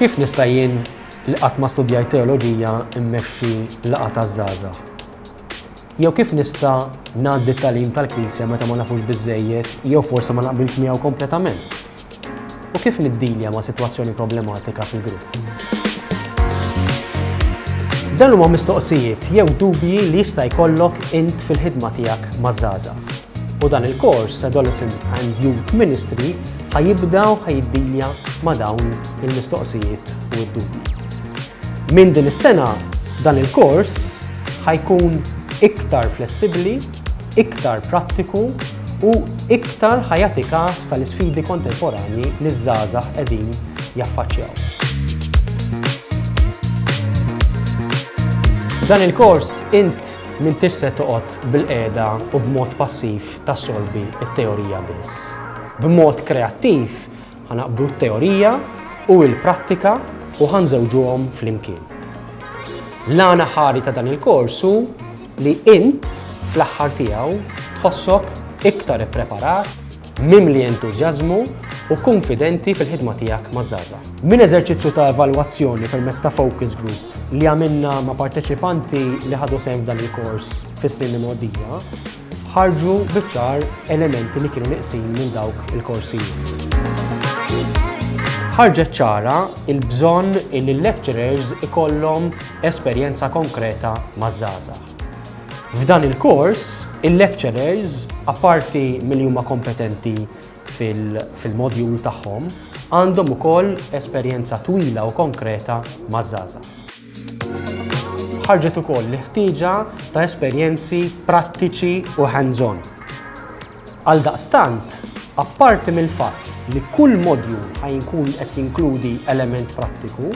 Kif nista' jien li qatt ma studjajt teoloġija mmexxi laqgħa taż-żgħażagħ? Jew kif nista' ngħaddi t-tagħlim tal-Knisja meta ma nafux biżżejjed jew forsi ma naqbilx miegħu kompletament? U kif niddilja ma' sitwazzjoni problematika fil-grupp? Dan huma mistoqsijiet jew dubji li jista' jkollok int fil-ħidma tiegħek maż-żgħażagħ. U dan il-kors Adolescent and Youth Ministry Ħa jibda u ħa jiddilja ma' dawn il-mistoqsijiet u d-dubji. Minn din is-sena dan il-kors ħa jkun iktar flessibbli, iktar prattiku u iktar ħa jagħti kas tal-isfidi kontemporanji li ż-żgħażagħ qegħdin jaffaċċjaw. Dan il-kors int m'intix se toqgħod bilqiegħda u b'mod passiv tassolvi t-teorija biss. B'mod kreattiv ħa naqbdu t-teorija u l-prattika u ħa nżewġuhom flimkien. L-għan aħħari ta' dan il-kors hu li int fl-aħħar tiegħu tħossok iktar ippreparat, mimli entużjażmu u konfidenti fil-ħidma tiegħek ma' żgħażagħ. Minn eżerċizzju ta' evalwazzjoni permezz ta' focus group li għamilna ma' parteċipanti li ħadu sehem f'dan il-kors fis-snin imgħoddija, ħarġu biċ-ċar elementi li kienu nieqsin minn dawk il-korsijiet. Ħarġet ċara il-bżonn li l-lecturers ikollhom esperjenza konkreta maż-żgħażagħ. F'dan il-kors, il-lecturers, apparti milli huma kompetenti fil-modjul tagħhom, għandhom ukoll esperjenza twila u konkreta maż-żgħażagħ. ħarġet ukoll l-ħtieġa ta' esperjenzi prattiċi u hands-on. Għal daqstant, apparti mill-fatt li kull modju ħajinkun qed jinkludi element prattiku,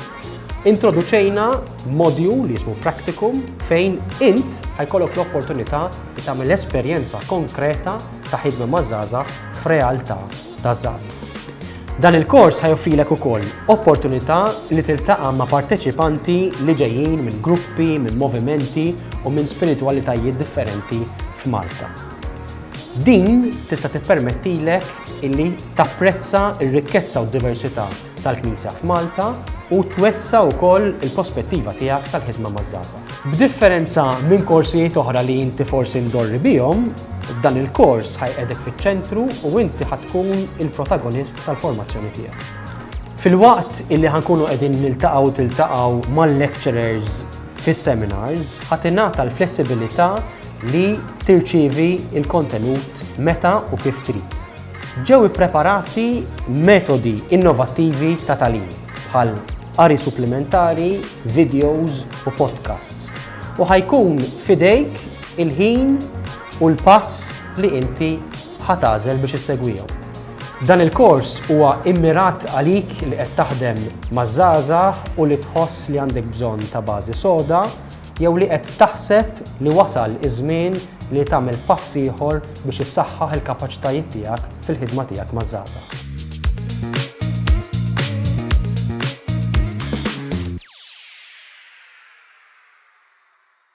introduċejna modju li jismu Practicum fejn int ħajkollok l-opportunità li tagħmel esperjenza konkreta ta' ħidma mażaza f'realtà taż-żgħażagħ. Dan il-kors ħajoffrilek ukoll opportunità li tiltaqa' ma' parteċipanti li ġejjin minn gruppi, minn movimenti u minn spiritwalitajiet differenti f'Malta. Din tista' tippermettilek illi tapprezza r-rikkezza u d-diversità tal-Knisja f'Malta u twessa' wkoll il-pospettiva tiegħek tal-ħidma maż-żgħażagħ. B'differenza minn korsijiet oħra li inti forsi mdorri bihom, dan il-kors ħajqegħdek fiċ-ċentru u inti ħa tkun il-protagonist tal-formazzjoni tiegħek. Filwaqt illi ħankunu qegħdin niltaqgħu tiltaqgħu mal-lecturers fis-seminars, ħa tingħata l-flessibilità li tirċievi l-kontenut meta u kif trid. Ġew ippreparati metodi innovattivi ta' tagħlim bħal qari supplimentari, videos u podcasts u ħa jkun f'idejk il-ħin u l-pass li inti ħa tagħżel biex issegwihom. Dan il-kors huwa immirat għalik li qed taħdem maż-żgħażagħ u li tħoss li għandek bżonn ta' bażi soda Jew li qed taħseb li wasal iż-żmien li tagħmel pass ieħor biex issaħħaħ il-kapaċitajiet tiegħek fil-ħidma tiegħek maż-żgħażagħ.